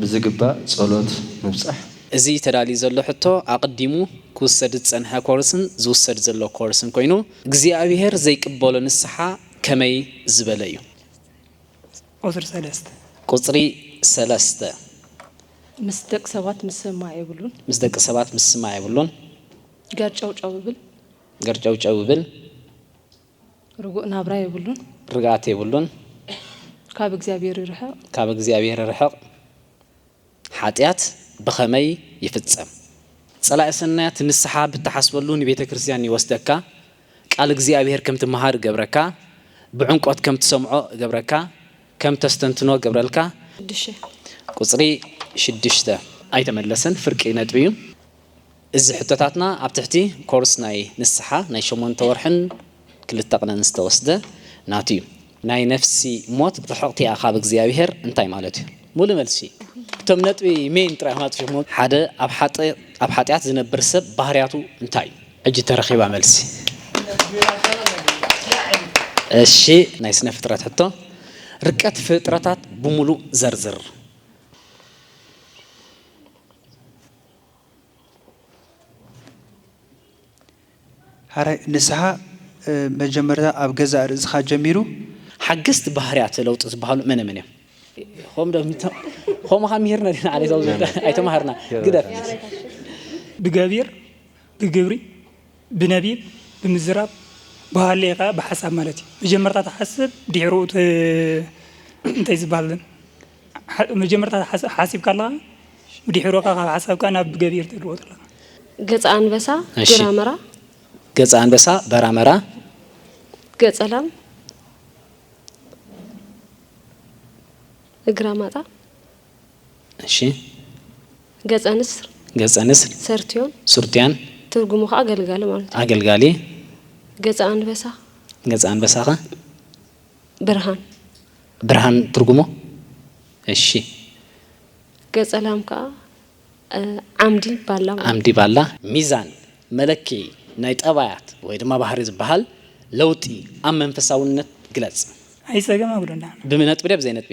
ብዝግባእ ጸሎት ምብጻሕ። እዚ ተዳልዩ ዘሎ ሕቶ ኣቕዲሙ ክውሰድ ዝጸንሐ ኮርስን ዝውሰድ ዘሎ ኮርስን ኮይኑ፣ እግዚኣብሄር ዘይቅበሎ ንስሓ ከመይ ዝበለ እዩ? ቁጽሪ ሰለስተ። ቁጽሪ ሰለስተ። ምስ ደቂ ሰባት ምስምማዕ የብሉን። ምስ ደቂ ሰባት ምስምማዕ የብሉን። ገርጨውጨው ይብል። ገርጨውጨው ይብል። ርጉእ ናብራ የብሉን። ርግኣት የብሉን። ካብ እግዚኣብሄር ይርሕቕ። ካብ እግዚኣብሄር ይርሕቕ። ሓጢኣት ብኸመይ ይፍጸም? ጸላኢ ሰናያት ንስሓ ብትሓስበሉ ንቤተ ክርስቲያን ይወስደካ፣ ቃል እግዚኣብሄር ከም ትመሃር እገብረካ፣ ብዕምቆት ከም ትሰምዖ እገብረካ፣ ከም ተስተንትኖ እገብረልካ። ሽዱሽተ። ቁጽሪ ሽዱሽተ። ኣይተመለሰን ፍርቂ ነጥቢ እዩ። እዚ ሕቶታትና ኣብ ትሕቲ ኮርስ ናይ ንስሓ ናይ ሸሞንተ ወርሕን ክልተ ቅነን ዝተወስደ ናቱ እዩ። ናይ ነፍሲ ሞት ርሕቕቲ እያ ካብ እግዚኣብሄር እንታይ ማለት እዩ? ሙሉእ መልሲ እቶም ነጥቢ main ጥራይኹም ኣጥፊኹሞ። ሓደ ኣብ ሓጥያት ዝነብር ሰብ ባህርያቱ እንታይ እዩ? ሕጂ ተረኺባ መልሲ። እሺ ናይ ስነ ፍጥረት ሕቶ ርቀት ፍጥረታት ብሙሉእ ዘርዝር። ሐራይ ንስሓ መጀመርታ ኣብ ገዛእ ርእስኻ ጀሚሩ። ሓገዝቲ ባህርያተ ለውጢ ዝበሃሉ መነ መን እዮም? ኸም ዶ ኸምኻ ምሂርና ዲና ዓሌት ኣብ ዝብል ኣይተማሃርና ግደፍ ብገቢር ብግብሪ ብነቢብ ብምዝራብ ብሃሌ ከኣ ብሓሳብ ማለት እዩ መጀመርታ ትሓስብ ድሒሩ እቲ እንታይ ዝበሃል መጀመርታ ሓሲብካ ኣለኻ ብዲሒሩ ከኣ ካብ ሓሳብካ ናብ ገቢር ትልወጦ ኣለኻ። ገጸ ኣንበሳ እሺ ግራመራ። ገጸ ኣንበሳ በራመራ። ገጸ ላም እግራ ማጣ። እሺ ገጸ ንስር ገጸ ንስር ሰርትዮን ሱርትያን ትርጉሙ ከኣ ገልጋሊ ማለት እዩ። ኣገልጋሊ። ገጸ ኣንበሳ። ገጸ ኣንበሳ ከ? ብርሃን። ብርሃን ትርጉሙ እሺ። ገጸ ላም ከኣ ዓምዲ ባላ ማለት። ዓምዲ ባላ። ሚዛን መለክዒ ናይ ጠባያት ወይ ድማ ባህሪ ዝበሃል ለውጢ ኣብ መንፈሳውነት ግለጽ። ኣይጸገም ኣጉደላን። ብነጥቢ ድያ ብዘይ ነጥቢ?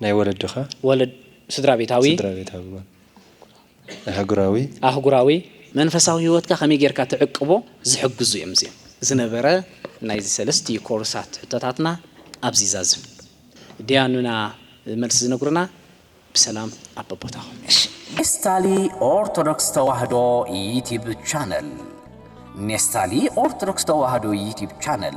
ናይ ወለድኻ ወለድ ስድራቤታዊ ስድራቤታዊ እዋን ኣህጉራዊ ኣህጉራዊ መንፈሳዊ ህይወትካ ከመይ ጌርካ ትዕቅቦ ዝሕግዙ እዮም እዚኦም። ዝነበረ ናይዚ ሰለስቲኡ ኮርሳት ሕቶታትና ኣብዚ ይዛዝም። ዲያኑና መልሲ ዝነግሩና ብሰላም ኣብ በቦታኹም። ኔስታሊ ኦርቶዶክስ ተዋህዶ ዩቲብ ቻነል ኔስታሊ ኦርቶዶክስ ተዋህዶ ዩቲብ ቻነል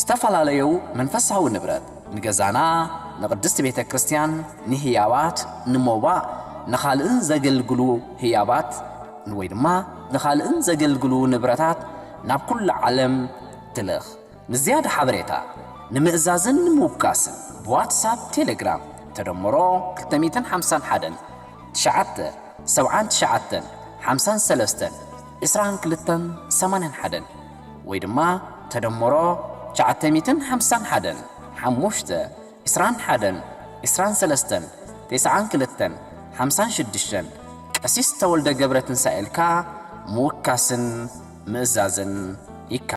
ዝተፋላለዩ መንፈሳዊ ንብረት፣ ንገዛና፣ ንቅድስት ቤተ ክርስቲያን፣ ንህያባት፣ ንሞባእ፣ ንኻልእን ዘገልግሉ ህያባት ወይ ድማ ንኻልእን ዘገልግሉ ንብረታት ናብ ኩሉ ዓለም ትልኽ። ንዝያዳ ሓበሬታ፣ ንምእዛዝን ንምውካስን ብዋትሳፕ፣ ቴሌግራም፣ ተደምሮ ክልተ ሚእትን ሓምሳን ሓደን፣ ትሽዓተ፣ ሰብዓን ትሽዓተን፣ ሓምሳን ሰለስተን፣ ዕስራን ክልተን፣ ሰማንያን ሓደን፣ ወይ ድማ ተደምሮ ትሽዓተ ሚእትን ሓምሳን ሓደን ሓሙሽተ ዕስራን ሓደን ዕስራን ሰለስተን ቴስዓን ክልተን ሓምሳን ሽዱሽተን ቀሲስ ተወልደ ገብረትንሳኤ ኢልካ ምውካስን ምእዛዝን ይከኣል።